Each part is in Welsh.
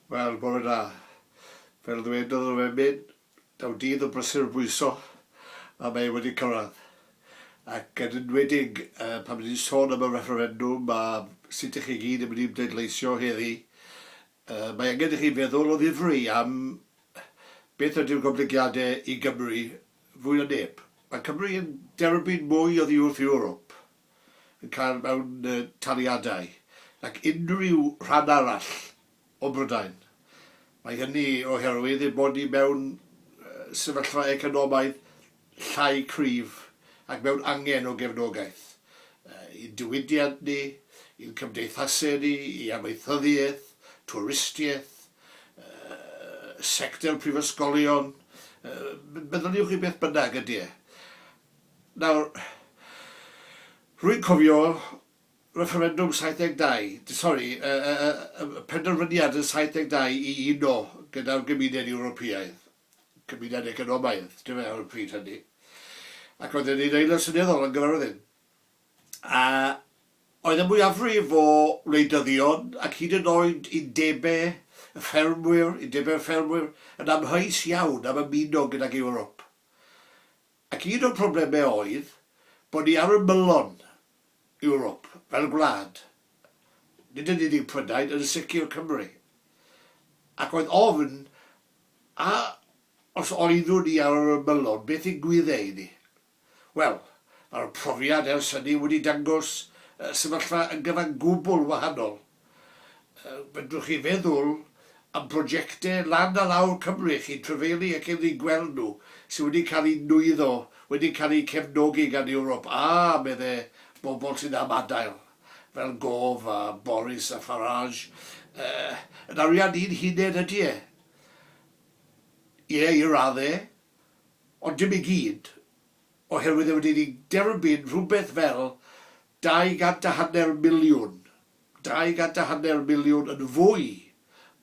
Wel, bore da. Fel ddwedodd yr emyn, daw dydd o brysur bwyso a mae e wedi cyrraedd. Ac yn enwedig pan ni'n sôn am y refferendwm a sut 'y chi gyd yn mynd i bleidleisio heddi, mae angen i chi feddwl o ddifri am beth ydy'r goblygiadau i Gymru fwy na neb. Mae Cymru yn derbyn mwy oddi wrth Ewrop y car mewn taliadau, nac unrhyw rhan arall o Brydain. Mae hynny oherwydd ein bod ni mewn sefyllfa economaidd llai cryf ac mewn angen o gefnogaeth i'n diwydiant ni, i'n cymdeithasau ni, i amaethyddiaeth, twristiaeth, sector prifysgolion, meddyliwch i beth bynnag, ydy e. Nawr, rwy'n cofio refferendwm 72, sori, y penderfyniad yn 72 i uno gyda'r Gymuned Ewropeaidd, Cymuned Economaidd, yndyfe, ar y pryd hynny, ac oedd e'n un aelod seneddol yn gyfarwyddyn. A oedd y mwyafrif o wleidyddion, ac hyd yn oed undebau y ffermwyr, undebau'r ffermwyr, yn amheus iawn am ymuno gydag Ewrop. Ac un o'n problemau oedd bod ni ar ymylon Ewrop fel gwlad, nid yn unig Prydain, yn sicr Cymru. Ac oedd ofn, a os oeddwn ni ar yr ymylon, beth yn gwyddau i ni? Wel, mae'r profiad ers hynny wedi dangos sefyllfa yn gyfan gwbl wahanol. Fedrwch chi feddwl am brojectau lan a lawr Cymru chi'n trafeilu ac yn eu gweld nhw, sydd wedi cael eu nwyddo, wedi cael eu cefnogi gan Ewrop a, meddai, bobl sydd am adael, fel Gove a Boris a Farage. Yn arian ni'n huned ydy e? Ie, i raddau, ond dim i gyd. oherwydd e wedi derbyn rhywbeth fel dau gant a hanner miliwn, dau gant a hanner miliwn yn fwy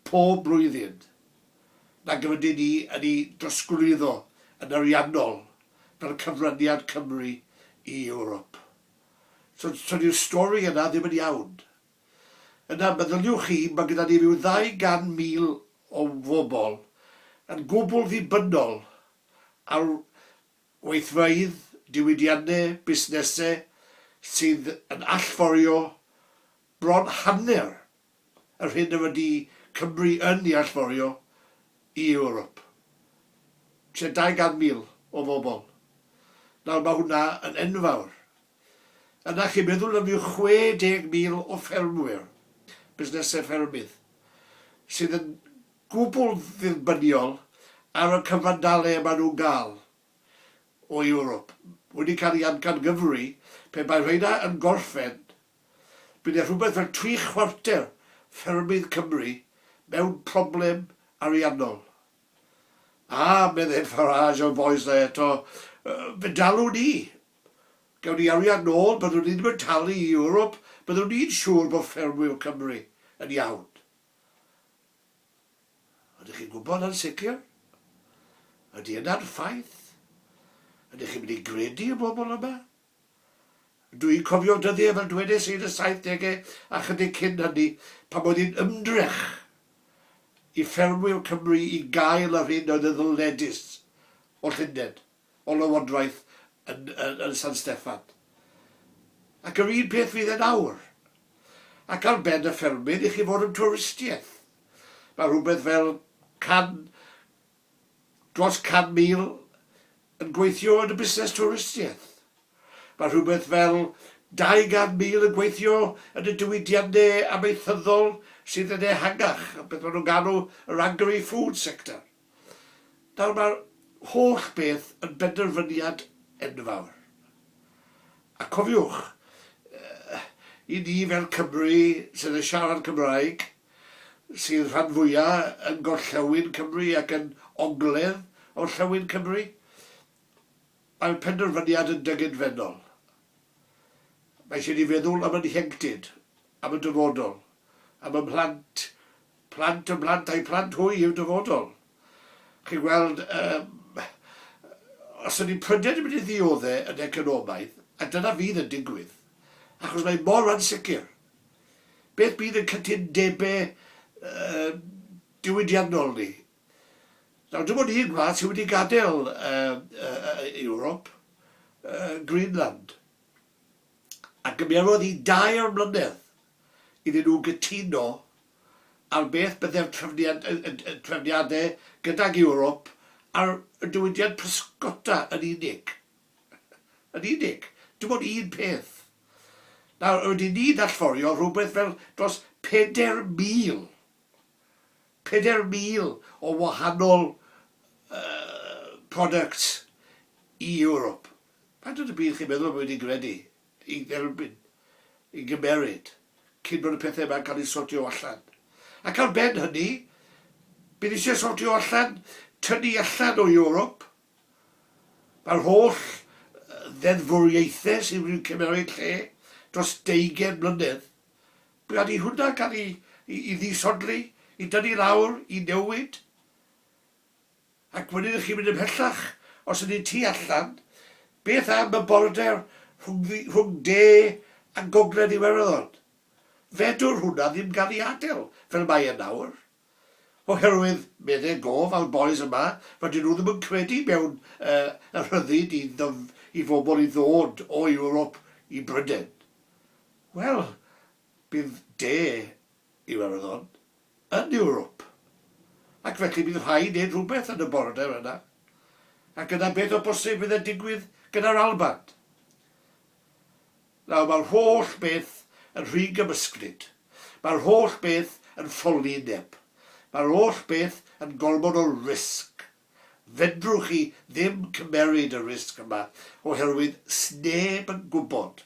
pob blwyddyn nag yr ydyn ni yn ei drosglwyddo yn ariannol fel cyfraniad Cymru i Ewrop. So, so dyw'r stori yna ddim yn iawn. Yna, meddyliwch chi, mae gyda ni ryw ddau gan mil o bobl yn gwbl ddibynnol Ar weithraidd diwydianne busnese sydd yn allforio bron hanner yr hyn yr ydy Cymru yn i allforio i Ewrop, tua 200,000 o fobl. Nawr, mae hwnna yn enfawr. Yna chi'n meddwl am ryw 60,000 o ffermwyr, busnesau ffermydd, sydd yn gwbl ddirbyniol ar y cyfandalau maen nhw'n gael o Ewrop, wedi cael ei amcangyfrwy, pe bai rheina yn gorffen, byddai rhywbeth fel tri chwarter ffermydd Cymru mewn problem ariannol. A, meddai Farage o Voice dda eto, fe dalwn ni, gawn ni arian nôl, byddwn ni ddim yn talu i Ewrop, byddwn ni'n siŵr bod ffermwyr Cymru yn iawn. Ydych chi'n gwybod yn sicr? Ydy yna'n ffaith? Ydych chi'n mynd i gredu y bobl yma? Dw i'n cofio dyddiau fel dwedais i yn y saithdegau a chydig cyn hynny pan oedd hi'n ymdrech i ffermwyr Cymru i gael yr hyn oedd yn ddylledus o Llundain. o lywodraeth yn, yn, yn San Steffan. Ac yr un peth fydd e nawr. Ac ar ben y ffermydd i chi fod yn twristiaeth. Mae rhywbeth fel can, dros can mil yn gweithio yn y busnes twristiaeth. Mae rhywbeth fel 200,000 yn gweithio yn y diwydiannau amaethyddol sydd yn ehangach, beth maen nhw'n galw yr agri-food sector. Nawr, mae'r holl beth yn benderfyniad enfawr. A cofiwch, i ni fel Cymry sydd yn siarad Cymraeg, sydd rhan fwya' yn gorllewin Cymru ac yn ogledd orllewin Cymru, mae'r penderfyniad yn dyngedfennol. Mae eisiau ni feddwl am ein hieuenctid, am y dyfodol, am y mhlant Plant y mhlant a'u plant hwy yw'r dyfodol. Chi'n gweld, yym, os ydy pryder yn mynd i ddiodde yn economaidd, a dyna fydd yn digwydd, achos mae mor ansicr, beth bydd yn cytundebe yy diwydiannol ni? Nawr, dim ond un gwlad sydd wedi gadael yy yy Ewrop, yy Greenland. a gymerodd i dair mlynedd iddyn nhw gytuno ar beth byddai'r trefniadau gydag Ewrop ar y diwydiant pysgota yn unig. Yn unig. Dim ond un peth. Nawr, rydyn ni'n allforio rhywbeth fel dros 4,000, 4,000 o wahanol products i Ewrop. Faint o dy bydd chi'n meddwl bod wedi gredu, i dderbyn, i gymeryd, cyn bod y pethau yma'n cael eu sortio allan? Ac ar ben hynny, bydd eisiau sortio allan tynnu allan o Ewrop mae'r holl ddeddfwriaethau sydd wedi cymeryd lle dros deugain mlynedd. Bydd rhaid i hwnna cael ei, i, i ddisodli, i dynnu lawr, i newid. Ac wedyn chi'n mynd ymhellach, os ydy tu allan, beth am y border rhwng De a Gogledd Iwerddon? Fedrwn hwnna ddim gael ei adael fel mae e nawr. Oherwydd, medde gof a'r bois yma, rydyn nhw ddim yn credu mewn y rhyddid i fobl i ddod o Ewrop i Bryden. Wel, bydd De Iwerddon yn Ewrop, ac felly bydd rhaid neud rhywbeth yn y border yna, ac yna beth o bosib fydd yn digwydd gyda'r Alban? Nawr, mae'r holl beth yn rhy gymysglyd. Mae'r holl beth yn ffolineb. Mae'r holl beth yn gormod o risg. Fedrwch chi ddim cymeryd y risg yma, oherwydd 'sneb yn gwybod.